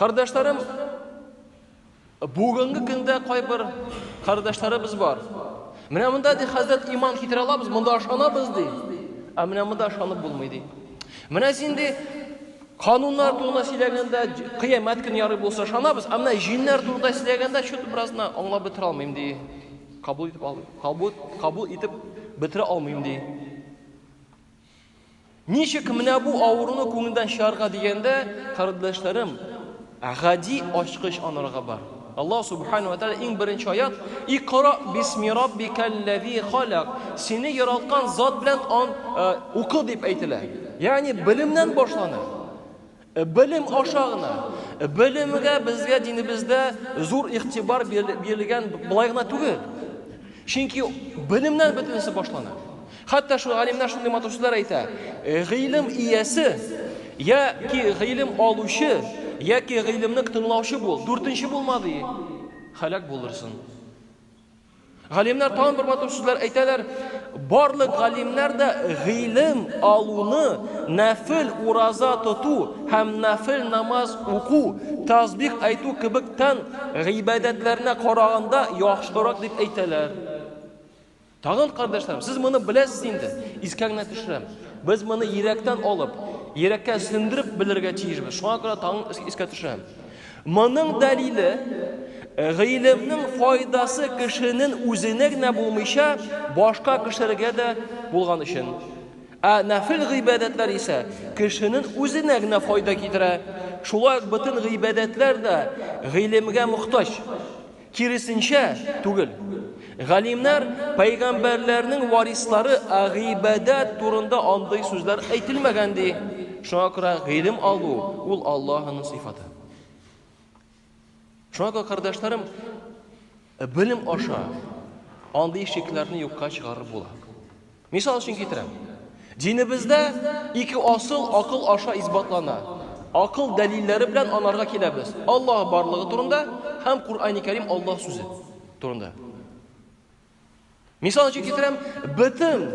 Кардәшләрем, бүгенге көндә кайбер кардәшләребез бар. Менә монда ди хәзрәт иман китерә алабыз, монда ашанабыз ди. Ә менә монда ашанып булмый ди. Менә син ди кануннар турында сөйләгәндә, кыямәт көне ярый булса ашанабыз, ә менә җиннәр турында сөйләгәндә чөт беразна аңлап бетерә алмыйм ди. Кабул итеп алмыйм. Кабул, кабул итеп бетерә алмыйм ди. Ничек менә бу авыруны күңелдән чыгарга дигәндә, кардәшләрем, гади ачкыч анарга бар. Аллаһ субхану ва тааля иң беренче аят: "Икра бисми раббикаллази халак". Сине яралткан зат белән ан э, укы дип әйтелә. Ягъни белемнән башлана. Белем аша гына. Белемгә безгә динебездә зур игътибар бирелгән былай гына түгел. Чөнки белемнән бөтенесе башлана. Хәтта шул галимнәр шундый матур сүзләр әйтә. Гыйлем иясе яки гыйлем алучы яки гыйлемне тыңлаучы бул, дүртенче булма ди. Халак булырсың. Галимнәр тагын бер матур сүзләр әйтәләр, Барлык галимнәр дә гыйлем алуны нәфел ураза тоту һәм нәфел намаз уку, тәсбих әйтү кебек тән гыйбадәтләренә караганда яхшырак дип әйтәләр. Тагын, кардәшләрем, сез моны беләсез инде, искә генә төшерәм. Без моны йөрәктән алып, йөрәккә сеңдереп белергә тиешбез. Шуңа күрә тагын искә төшерәм. Моның дәлиле, гыйлемнең файдасы кешенен үзенә генә булмыйча, башка кешеләргә дә булган өчен. Ә нәфел гыйбадәтләр исә кешенен үзенә генә файда китерә. Шулай ук бөтен гыйбадәтләр дә гыйлемгә мохтаҗ. Киресенчә түгел. Галимнәр, пәйгамбәрләрнең варислары гыйбадәт турында андый сүзләр әйтелмәгән ди. Шуңа күрә гыйлем алу ул Аллаһының сыйфаты. Шуңа күрә, кардәшләрем, белем аша андый шикләрне юкка чыгарып була. Мисал өчен китерәм. Динебездә ике асыл акыл аша исбатлана. Акыл дәлилләре белән анарга киләбез. Аллаһ барлыгы турында һәм Куръани Кәрим Аллаһ сүзе турында. Мисал өчен китерәм, бөтен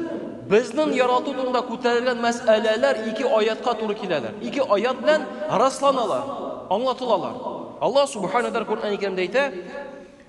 безнең ярату турында күтәрелгән мәсьәләләр ике аятка туры киләләр. Ике аят белән расланалар, аңлатылалар. Аллаһ субханаһу ва тааля Куръани Кәримдә әйтә,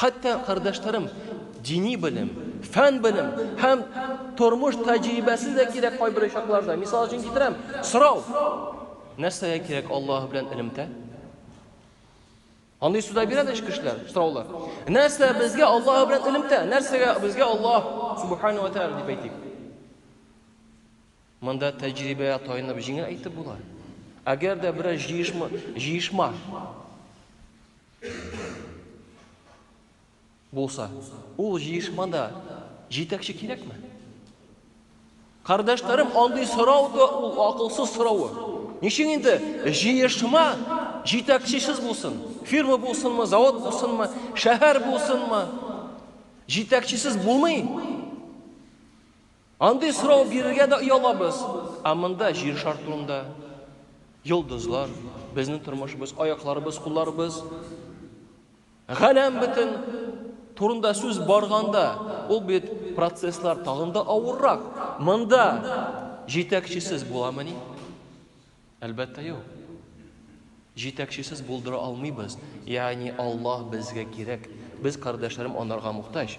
Хәтта кардәшләрем дини белем, фән белем һәм тормыш тәҗрибәсе дә кирәк кайбер очракларда. Мисал өчен китерәм, сорау. Нәрсәгә кирәк Аллаһ белән элемтә? Андый суда бирәләр ич кешеләр, сораулар. Нәрсә безгә Аллаһ белән элемтә? Нәрсәгә безгә Аллаһ субхану ва тааля дип әйтик? Монда тәҗрибәгә таянып җиңел әйтеп була. Әгәр дә берәр җыешма, җыешма Булса, ул җыешмада җитәкче кирәкме? Кардәшләрем, андый сорау да ул акылсыз сорауы. Ничек инде җыешма җитәкчесез булсын? Фирма булсынмы, завод булсынмы, шәһәр булсынмы? Җитәкчесез булмый. Андый сорау бирергә дә оялабыз, ә монда җир шар турында, йолдызлар, безнең тормышыбыз, аякларыбыз, кулларыбыз, галәм бөтен турында сүз барганда, ул бит процесслар тагын да авыррак. Монда җитәкчесез буламыни? Әлбәттә, юк. Җитәкчесез булдыра алмыйбыз. Ягъни Аллаһ безгә кирәк. Без, кардәшләрем, анарга мохтаҗ.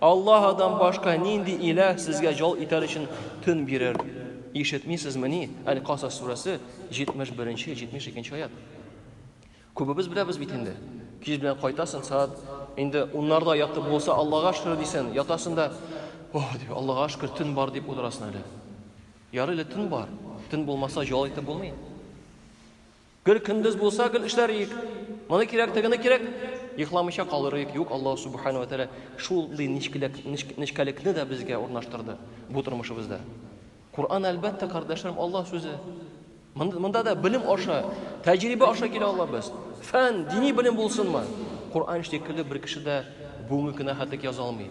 Аллаһыдан башка нинди иләһ сезгә җал итәр өчен төн бирер? Ишетмисезмени? Әл-Касас сүрәсе 71-72 аят. Күбебез беләбез бит инде. Кич белән кайтасың, саат инде уннарда ятып булса, Аллага шөкер дисен, ятасың да, ох, дип, Аллага шөкер, төн бар дип утырасың әле. Ярый әле төн бар. Төн булмаса, җал итеп булмый. Гел көндез булса, гел эшләр иек. Моны кирәк, тегене кирәк. Йокламыйча калыр иек. Юк, Аллаһ Субхану ва Тәгалә шул ди нечкәлек, нечкәлекне дә безгә урнаштырды бу тормышыбызда. Коръан әлбәттә, кардәшләрем, Аллаһ сүзе. Монда да белем аша, тәҗрибә аша килә алабыз. Фән, дини белем булсынмы? Коръан шикелле бер кеше дә бүгенге кенә хәтек яза алмый.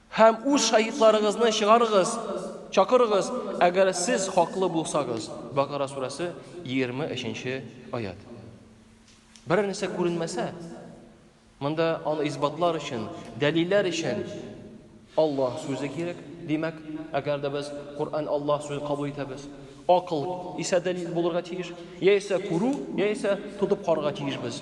Һәм үз шаһитларыгызны чыгарыгыз, чакырыгыз, әгәр сез хаклы булсагыз. Бакара сүрәсе, 23-нче аять. Берәр нәрсә күренмәсә, монда аны исбатлар өчен, дәлилләр өчен Аллаһ сүзе кирәк. Димәк, әгәр дә без Коръән Аллаһ сүзе кабул итәбез, акыл исә дәлил булырга тиеш, яисә күрү, яисә тотып карарга тиешбез.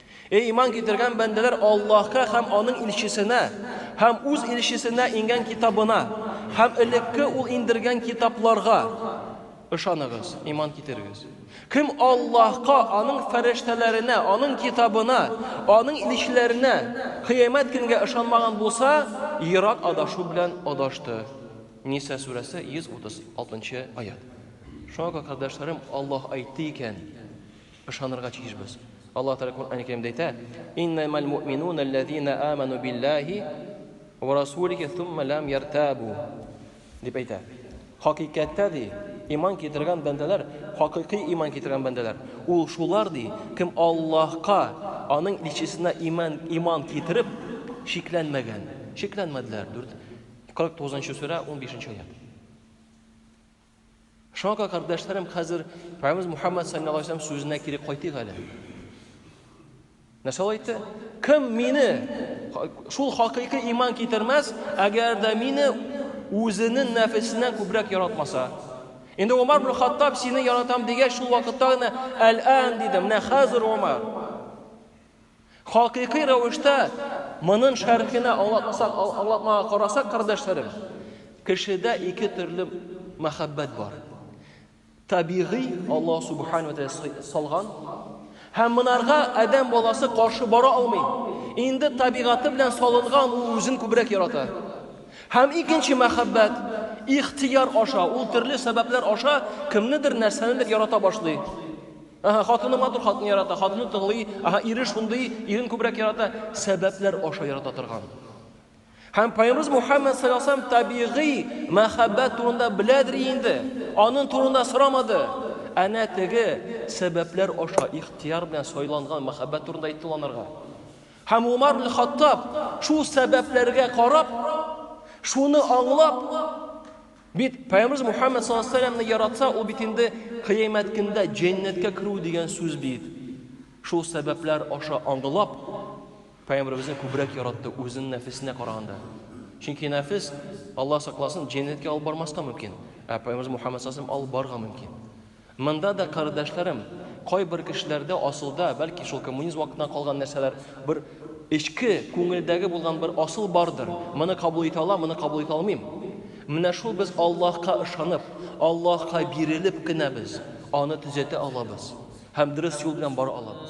Эй иман китергән бәндәләр Аллаһка һәм аның илчесенә һәм үз илчесенә ингән китабына һәм элекке ул индергән китапларга ышаныгыз, иман китерегез. Кем Аллаһка, аның фәрештәләренә, аның китабына, аның илчеләренә, кыямәт көнгә ышанмаган булса, ерак адашу белән адашты. Ниса сүрәсе 136 аят. Шуңа күрә, кардәшләрем, Аллаһ әйтте икән, Ышанырга тиешбез. Аллаһ Тәгалә Коръәни Кәримдә әйтә, Иннәмәл муъминуна алләзина аману биллаһи вә расулихи сумма ләм яртабу. Дип әйтә. Хакыйкатьтә, ди, иман китергән бәндәләр, хакыйкый иман китергән бәндәләр, ул шулар, ди, кем Аллаһка, аның илчесенә иман, иман китереп, шикләнмәгән. Шикләнмәделәр. 4, 49 нчы сүрә, 15 нче аять. Шуңа күрә, кардәшләрем, хәзер Пәйгамбәрбез Мухаммад саллаллаху алейһи вәсәлләм сүзенә кире кайтыйк әле. Нәрсә әйтте? Кем мине шул хакыйкый иман китермәс, әгәр дә мине үзенең нәфесеннән күбрәк яратмаса. Инде Умар бер Хаттаб сине яратам дигәч, шул вакытта гына әл-ан диде. Менә хәзер Умар. Хакыйкый рәвештә монын шәрхенә аңлатмасак, аңлатмага карасак, кардәшләрем, кешедә ике төрле мәхәббәт бар. Табигый Аллаһ Субхану ва Тәгалә салган һәм монарга адәм баласы каршы бара алмый. Инде табигаты белән салынган ул үзен күбрәк ярата. Һәм икенче мәхәббәт ихтияр аша, ул төрле сәбәпләр аша кемнедер нәрсәнедер ярата башлый. Аһа, хатыны матур, хатыны ярата, хатыны тыңлый, аһа, ире шундый, ирен күбрәк ярата, сәбәпләр аша ярата торган. Һәм Пайгамбарыбыз Мухаммад саллаллаху алейһи ва саллям табигый мәхәббәт турында беләдер инде. Аның турында сорамады. Әнә теге сәбәпләр аша ихтияр белән сайланган мәхәббәт турында әйтте анарга. Һәм Умар ибн Хаттаб шул сәбәпләргә карап, шуны аңлап, Бит Пәйгамбербез Мухаммед саллаллаһу алейһи ва сәлләмне яратса, ул бит инде кыямәт көндә җәннәткә керү дигән сүз бит. Шул сәбәпләр аша аңгылап, Пәйгамбербезне күбрәк яратты үзенең нәфесенә караганда. Чөнки нәфес, Аллаһ сакласын, җәннәткә алып бармаска мөмкин, ә Пәйгамбербез Мухаммед саллаллаһу алейһи ва сәлләм алып барырга мөмкин. Монда да, кардәшләрем, кайбер кешеләрдә асылда, бәлки шул коммунизм вакытыннан калган нәрсәләр, бер эчке, күңелдәге булган бер асыл бардыр, моны кабул итә алам, моны кабул итә алмыйм. Менә шул без Аллаһка ышанып, Аллаһка бирелеп кенә без аны төзәтә алабыз һәм дөрес юл белән бара алабыз.